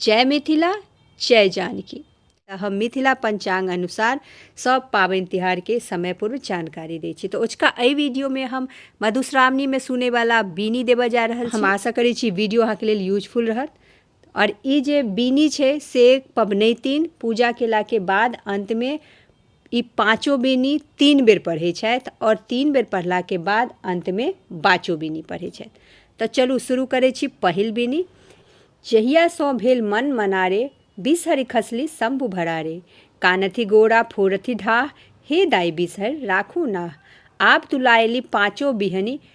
जय मिथिला जय जानकी तऽ हम मिथिला पंचांग अनुसार सब पाबनि तिहार के समय पूर्व जानकारी दै छी तऽ ओचका एहि वीडियो में हम मधुश्रावणी में सुने वाला बीनी देबऽ जा रहल छी हम आशा करै छी वीडियो अहाँके लेल यूजफुल रहत और ई जे बीनी छै से पबनैतिन पूजा केला के बाद अंत में ई पाँचो बीनी तीन बेर पढ़ै छथि आओर तीन बेर पढ़लाके बाद अन्तमे बाचो बीनी पढ़ै छथि तऽ चलू शुरू करै छी पहिल बीनी जहियासँ भेल मन मनारे बिसहरि खसली शम्भु भरारे कानथि गोरा फोड़थि ढाह हे दाइ बिसहरि राखू नाह आब तुलायली पाँचो बिहनि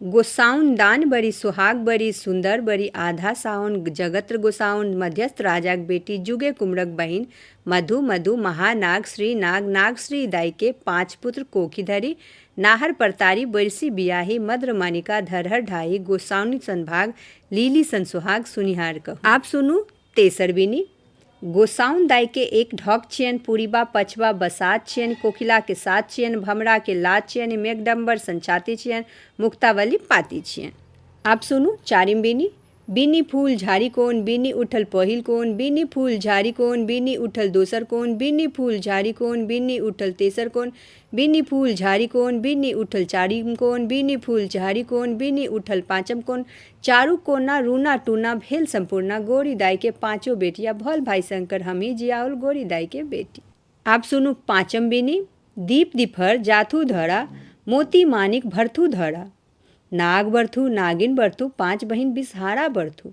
गोसाउन दान बड़ी सोहाग बड़ी सुन्दर बड़ी आधा साउन जगत्र गोसाउन मध्यस्थ राजाक बेटी जुगे कुमरक बहिन मधु मधु महानाग श्री नाग नाग श्री दाई के पाँच पुत्र कोखी धरी नाहर परतारी बरिसी बियाही मद्र मानिका धरहर ढाही गोसाउनि सन भाग लीली सन सोहाग सुनिहार कहू। आब सुनू तेसर बीनी गोसाउन दाइ के एक ढक छियनि पूरिबा पछबा बसात छियनि कोकिला के साथ छियनि भमरा के लात छियनि मेघडम्बर सन छाती छियनि मुक्तावली पाती छियनि आब सुनू चारिम बीनी बीनी फूल झाड़ी कोन बीनी उठल पहिल कोन बीनी फूल झाड़ी कोन बीनी उठल दोसर कोन बीनी फूल झाड़ी कोन बीनी उठल तेसर कोन बीनी फूल झाड़ी कोन बीनी उठल चारिम कोन बीनी फूल झाड़ी कोन बीनी उठल पाँचम कोन चारू कोना रूना टूना भेल सम्पूर्णा गोरी दाई के पाँचो बेटिया भल भाई शंकर हम ही जियाउल गोरी दाई के बेटी आप सुनू पाँचम बीनी दीप दिफर जाथू धरा मोती मानिक भरथू धरा नाग बरथू नागिन बरथू पाँच बहिन बिसहारा बरथू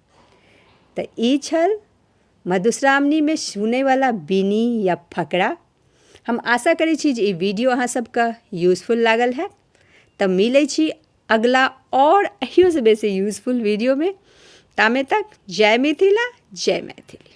तऽ ई छल मधुश्रावणीमे सुनैवला बीनी या फकरा हम आशा करै छी जे ई वीडियो अहाँ सभके यूजफुल लागल हैत तऽ मिलै छी अगिला आओर एहियोसँ बेसी यूजफुल वीडियोमे तामे तक जय मिथिला जय मैथिली